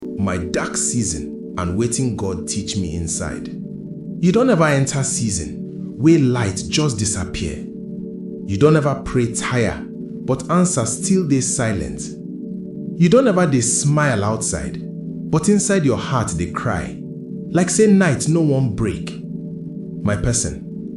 My dark season and wetin God teach me inside. You don ever enter season wey light just disappear? You don ever pray tire but answer still dey silent? You don ever dey smile outside but inside your heart dey cry like say night no wan break? My person,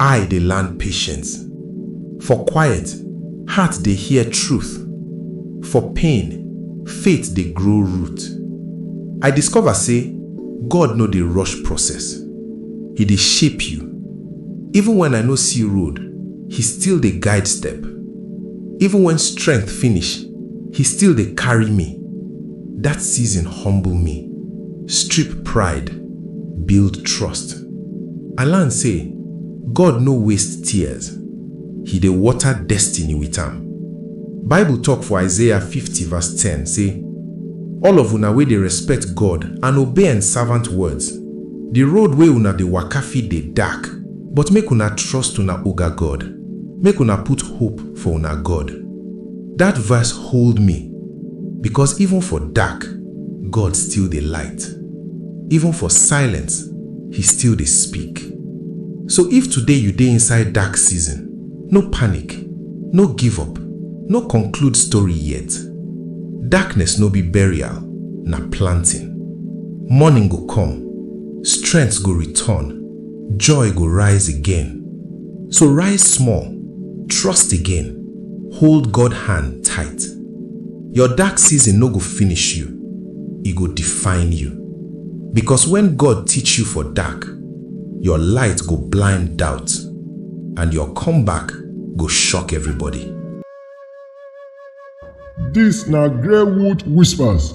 Eye dey land patience. For quiet, heart dey hear truth. For pain, faith dey grow root. I discover say God no dey rush process. He dey shape you. Even when I no see road, He still dey guide step. Even when strength finish, He still dey carry me. That season humble me, strip pride. Build trust. I learn say God no waste tears, He dey water destiny with am. Bible talk for Isaiah fifty verse ten say, All of una wey dey respect God and obey en servant words, the road wey una dey waka fit dey dark, but make una trust una Oga God, make una put hope for una God. That verse hold me because even for dark, God still dey light. Even for silence, He still dey speak. So if today you dey inside dark season, no panic, no give up, no conclude story yet. Darkness no be burial, na planting. Morning go come, strength go return, joy go rise again. So rise small, trust again, hold God hand tight. Your dark season no go finish you, e go define you. Because when God teach you for dark, your light go blind doubt and your comeback go shock everybody. Dis na Greywood Whispers,